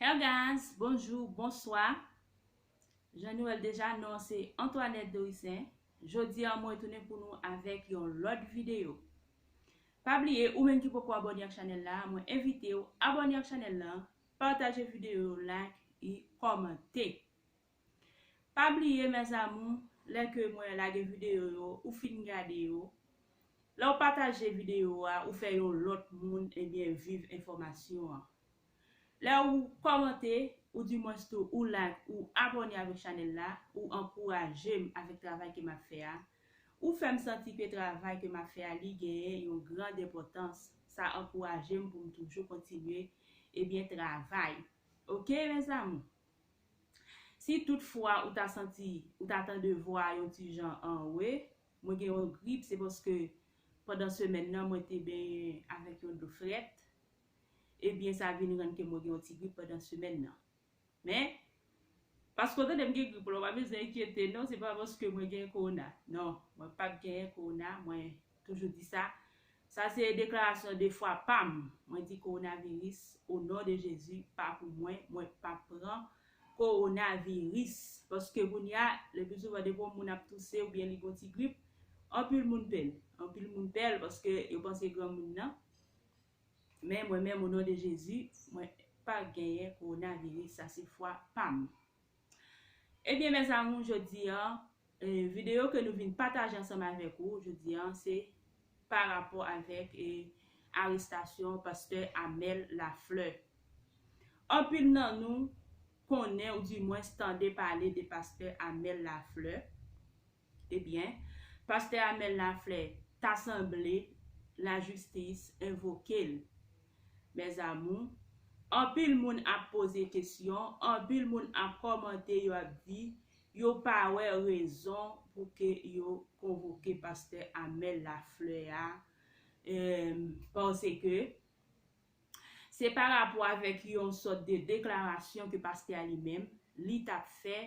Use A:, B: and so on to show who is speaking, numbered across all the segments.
A: Her guys bonjou bonswa jan nou wèl deja non se Antoinette Dorissaint jodi an mwen tounen pou nou avèk yon lòt video pa bliye ou menm ki poko abòne ak chanèl la mwen envitew abòne ak chanèl lan pataje video yo like e kòmante. Pa bliye mes amours lè ke mwen lage video yo ou fin gade yo lèw pataje video a ou fè yon lòt moun ebyen viv enfòmasyon an lè ou kòmante ou di mwens tou ou like ou abòne avèk chanèl la ou ankourajem avèk travay ke map fè a ou fèm santi ke travay ke map fè a li genyen yon gran denpòtans sa ankourajem poum toujou kontinye ebyen travay ok mes amours. Si tout fwa ou ta santi ou ta tande vwa a yon ti jan anwe mwen gen yon grip se paske pandan semèn nan mwen te benyen avèk yon dlo frèt ebyen sa vin rann ke mwen gen yon ti grip pandan semèn nan men paske ou tande m gen grip la ou pa bezwen enkyete non se pa paske mwen gen kowona non mwen pap genyen kowona mwen Toujou di sa, sa se deklarasyon de fwa pam, mwen di coronavirus o non de Jezi pa pou mwen, mwen pap pran coronavirus, paske kounya le pi souvan depi yon moun ap touse ou byen li gon ti grip, anpil moun pè l, anpil moun pè l paske yo panse granmoun nan, men mwen menm o non de Jezi mwen pa genyen coronavirus sa se fwa pam. Ebyen mes amour jodi an video ke nou vin pataje ansanm avèk ou jodi an se pa rapò avèk arestasyon pastè Amel Lafleur. Anpil nan nou konnen ou di mwens tande pale de pastè Amel Lafleur Ebyen, pastè Amel Laflè ta sanble lajistis envoke l. Mèzamou, anpil moun ap poze kesyon, anpil moun ap kòmante yo ap di yo pa wè rezon pou ke yo konvoke pastè Amel Laflè a, pase ke Se pa rapò avèk yon sòt de deklarasyon ke pastè a li menm, li t ap fè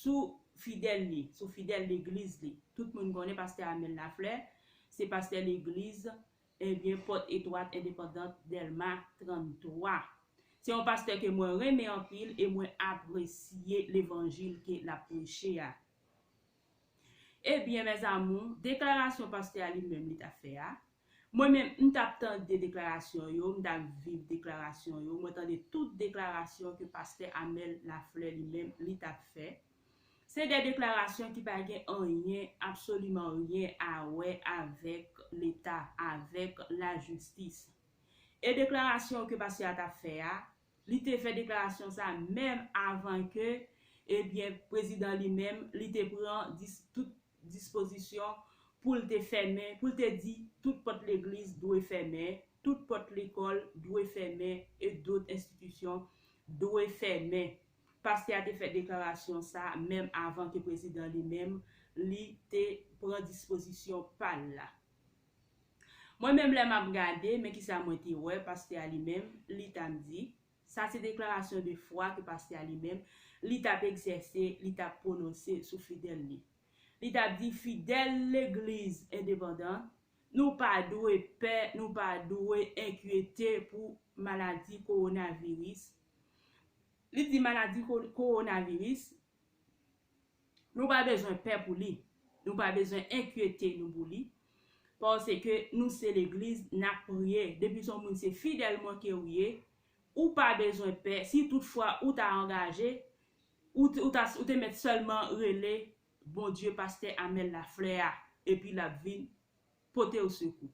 A: sou fidèl li, sou fidèl legliz li. Tout moun konnen pastè Amel Lafleur, se pastè legliz, ebyen pòt etwat endepandant Dèlma 33. Se yon pastè ke mwen renmen anpil e mwen apresye levanjil ke l ap preche a. Ebyen mes amours deklarasyon pastè a li menm li ta fè a mwen menm m tap tande deklarasyon yo m tap viv deklarasyon yo mwen tande tout deklarasyon ke pastè Amel Lafleur li menm li tap fè se de deklarasyon ki pa gen anyen absoliman ryen a wè avèk leta avèk lajistis e deklarasyon ke pastè a tap fè a Li te fè deklarasyon sa menm avan ke ebyen prezidan li menm li te pran dis tout dispozisyon pou l te fèmen pou l te di tout pòt legliz dwe fèmen, tout pòt lekòl dwe fèmen e dot enstitisyon dwe fèmen. Pastè a te fè deklarasyon sa menm avan ke prezidan li menm li te pran dispozisyon pa l la. Mwen menm lè map gade men kisa mwen te wè pastè a li menm li tap di sa se deklarasyon de fwa ke pastè a li menm li tap egzèse li tap pwononse sou fidèl li li tap di fidèl legliz endepandan nou pa dwe pè nou pa dwe enkyete pou maladi kowonaviris li di maladi kowonaviris Nou pa bezwen pè pou li, nou pa bezwen enkyete nou pou li, paske nou se legliz nap priye, depi son moun se fidèlman kew ye, ou pa bezwen pè, si tout fwa ou ta angaje, ou te mèt sèlman rele Bondye pastè Amel Lafleur a, epi lap vin potew sekou.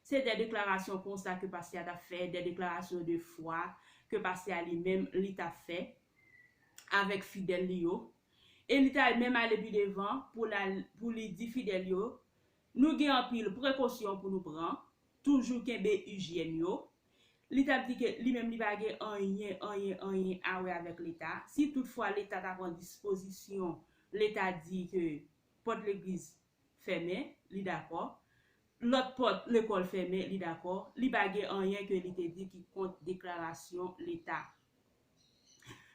A: Se de deklarasyon konsa ke pastè a tap fè, de deklarasyon de fwa ke pastè a li menm li tap fè avèk fidèl li yo. E li ta menm ale pi devan pou l al, pou li di fidèl yo, nou gen anpil prekosyon pou nou pran, toujou kenbe ijyèn yo. Li tap di ke li menm li pa gen anyen, anyen, anyen a wè avèk leta. Si tout fwa leta ta pran dispozisyon, leta di ke pòt legliz fèmen, li dakò, lòt pòt lekòl fèmen, li dakò, li pa gen anyen ke li te di ki kont deklarasyon Leta.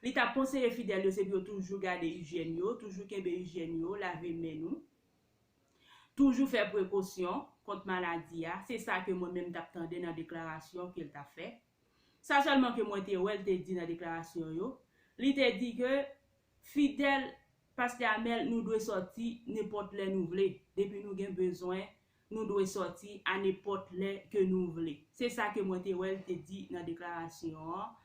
A: Li t ap konseye fidèl yo se pou yo toujou gade ijyèn yo, toujou kenbe ijyèn yo, lave men nou, toujou fè prekosyon kont maladi a, se sa ke mwen menm m t ap tande nan deklarasyon ke l t ap fè. Sa sèlman ke mwen te wè l te di nan deklarasyon yo, li te di ke Fidèl Pastè Amel nou dwe sòti nenpòt lè nou vle, depi nou gen bezwen nou dwe sòti a nenpòt lè ke nou vle. Se sa ke mwen te wè l te di nan deklarasyon an.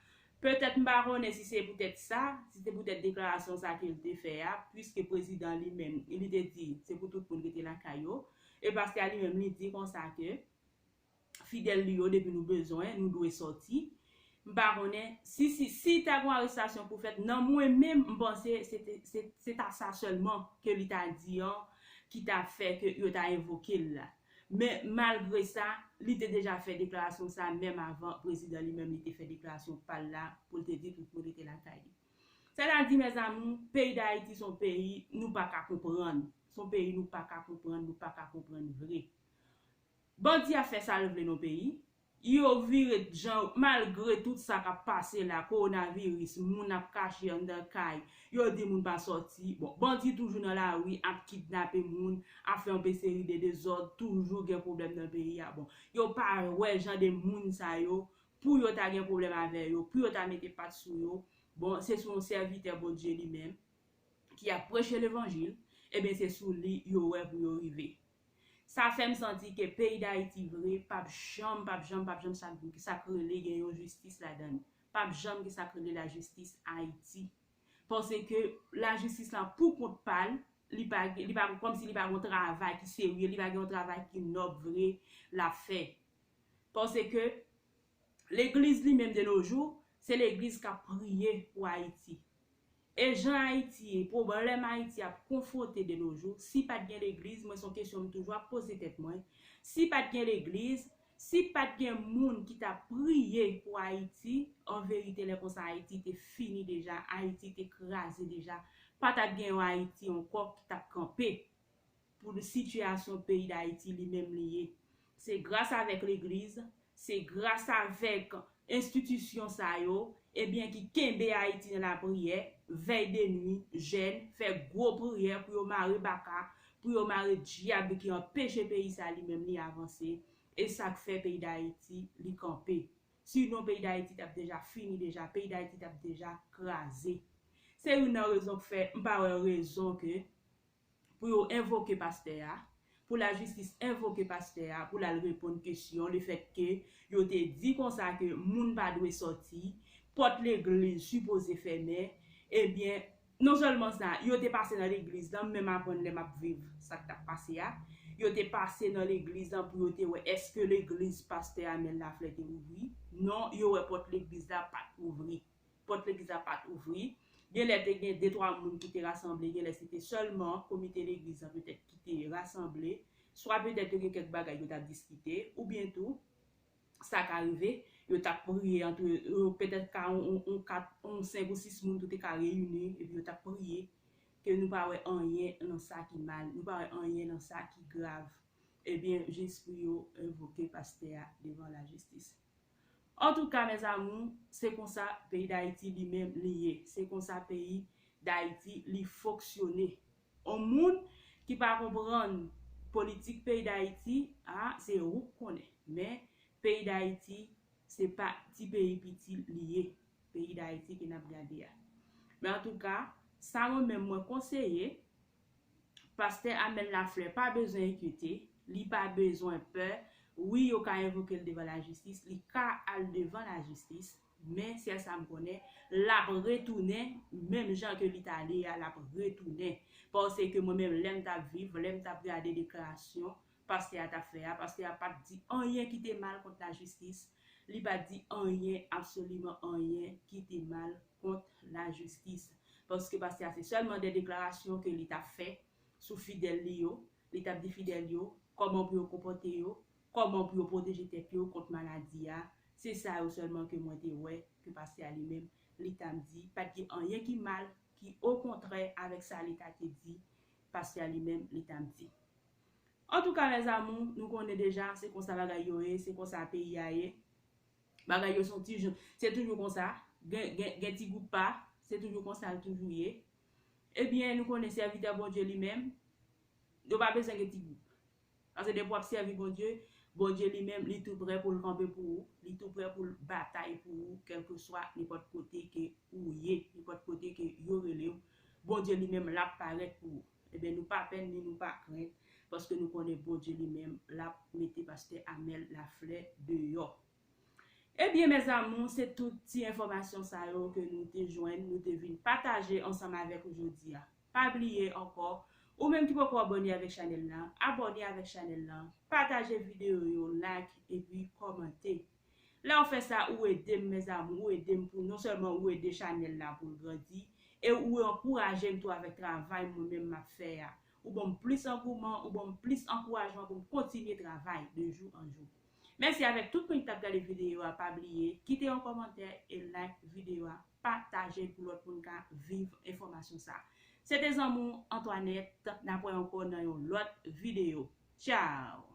A: Petèt m pa konnen si se poutèt sa, si se poutèt deklarasyon sa ke l te fè a, puiske prezidan li menm li te di se pou tout moun rete lakay yo, e pastè a li menm li di konsa ke fidèl li yo depi nou bezwen nou dwe sòti m pa konnen si si si ta gon arestasyon pou fèt nan mwen menm m panse se te se ta sa sèlman ke li ta di an ki ta fè ke yo ta envoke l la men malgre sa li te deja fè deklarasyon sa menm avan prezidan li menm li te fè deklarasyon pa l la pou l te di tout moun rete lakay li sè ta di mèzamou peyi dayiti son peyi nou pa ka konprann son peyi nou pa ka konprann nou pa ka konprann vre. Bandi a fè sal vle non peyi Yo vire t jan yo malgre tout sa kap pase la korona viris moun ap kache andan kay yo di moun pa sòti bon bandi toujou nan lari ap kidnape moun ap fè yon pe seri de dezòd toujou gen problèm nan peyi a bon yo pa wè jan de moun sa yo pou yo ta gen problèm avè yo pou yo ta mete pat sou yo bon se sou yon sèvitè bondye li menm ki ap preche levanjil ebyen se sou li yo wè pou yo rive. Sa fè m santi ke peyi Dayiti vre p ap janm, p ap janm, p ap janm sa k sa k rele gen yon jistis ladan l. P ap janm gen sa k rele lajistis Ayiti. Paske lajistis lan pou kont pa l, li pa gen, li pa gen, kòmsi li pa gen yon travay ki serye, li pa gen yon travay ki nòb vre l ap fè. Paske. Legliz li menm de no jou, se legliz k ap priye pou Ayiti. E jan Ayiti ye, pwoblèm Ayiti ap konfwonte de no jou, si pa t gen legliz, mwen se yon kesyon m toujou ap poze tèt mwen, si pa t gen legliz, si pa t gen moun ki t ap priye pou Ayiti, an verite lè konsa Ayiti te fini deja, Ayiti te kraze deja, pa t ap gen yon Ayiti ankò ki t ap kanpe. pou sitiyasyon peyi dayiti li menm li ye se gras avèk legliz se gras avèk enstitisyon sa yo ebyen ki kenbe ayiti nan lapriyè vèy de nwi jèn fè gwo priyè pou yo mare baka pou yo mare dyab ki anpeche peyi sa li menm li avanse e sak fè peyi dayiti li kanpe si non peyi dayiti tap deja fini deja peyi dayiti tap deja kraze se youn nan rezon k fè m pa wè rezon ke pou yo envoke pastè a, pou lajistis envoke pastè a pou l al reponn kesyon lefètke yo te di konsa ke moun pa dwe sòti, pòt legliz sipoze fèmen, ebyen non sèlman sa, yo te pase nan legliz lan, m menm aprann lè m ap viv sa k t ap pase a, yo te pase nan legliz lan pou yo te wè èske legliz pastè Amel Laflè te ouvri, non yo wè pòt legliz la pa t ouvri. Pòt legliz la pa t ouvri. Genlè te gen detwa moun ki te rasanble, genlè se te sèlman komite legliz la petèt ki te rasanble. Swa petèt yo gen kèk bagay yo t ap diskite. Oubyen tou, sa ka rive, yo t ap priye antre yo, petèt ka yon kat, yon senk ou sis moun tou te ka reyini epi yo t ap priye ke nou pa wè anyen nan sa ki mal, nou pa wè anyen nan sa ki grav. Ebyen, jis pou yo envoke pastè a devan lajistis. Antouka mes amours se konsa peyi dayiti li menm li ye se konsa peyi dayiti li foksyone on moun ki pa konprann politik peyi dayiti a se ouk konnen men peyi dayiti se pa ti peyi piti li ye peyi dayiti ke nap gade a men antouka sa mwen menm mwen konseye Pastè Amel Lafleur pa bezwen enkyete, li pa bezwen pè, wi yo ka envoke l devan lajistis, li ka al devan lajistis, men sèl sa m konnen, l ap retounen menm jan ke li t ale a, l ap retounen. Paske mwen menm lè m t ap viv, lè m t ap gade deklarasyon pastè a t ap fè a, pastè a pa t di anyen ki te mal kont lajistis, li pa t di anyen, absoliman anyen ki te mal. kont la jistis paske pastè a se sèlman de deklarasyon ke li tap fè sou fidèl li yo, li tap di fidèl yo kòman pou yo konpòte yo, kòman pou yo pwoteje tèt yo kont maladi a, se sa yo sèlman ke mwen te wè ke pastè a li menm li tap di, pat gen anyen ki mal ki okontrè avèk sa li ta te di, pastè a li menm li tap di. Antouka mes amour nou konnen deja se konsa bagay yo ye, se konsa peyi a ye. Bagay yo son tijou se toujou konsa gen gen ti gwoup pa se toujou konsal toujou ye ebyen nou konnen sèvitè Bondye li menm yo pa bezwen gen ti gwoup pase depi wap sèvi Bondye Bondye li menm li tou prè poul kanpe pou ou li tou prè poul batay pou ou kèlkeswa nenpòt kote ke ou ye nenpòt kote ke yo relew Bondye li menm lap parèt pou ou. Ebyen nou pa pè ni nou pa krent paske nou konnen Bondye li menm lap mete pastè Amel Laflè deyò. Ebyen mes amours se tout ti enfòmasyon sa yo ke nou te jwenn nou te vin pataje ansanm avèk ou jodi a. Pa bliye ankò ou menm ki poko abòne avèk chanèl la, abòne avèk chanèl la, pataje videyo yo, like epi kòmante. Lèw fè sa ou edem mes amour ou edem pou non sèlman ou ede chanèl la poul grandi e ou ankourajem tou avèk travay mwen menm map fè a ou banm plis angouman ou banm plis ankourajman poum kontinye travay de jou an jou mèsi avèk tout moun ki tap gade videyo a pa bliye kite yon kòmantè e like videyo a patajel pou lòt moun ka viv enfòmasyon sa se te zanmi w Antoinette nap wè ankò nan yon lòt videyo tchaww.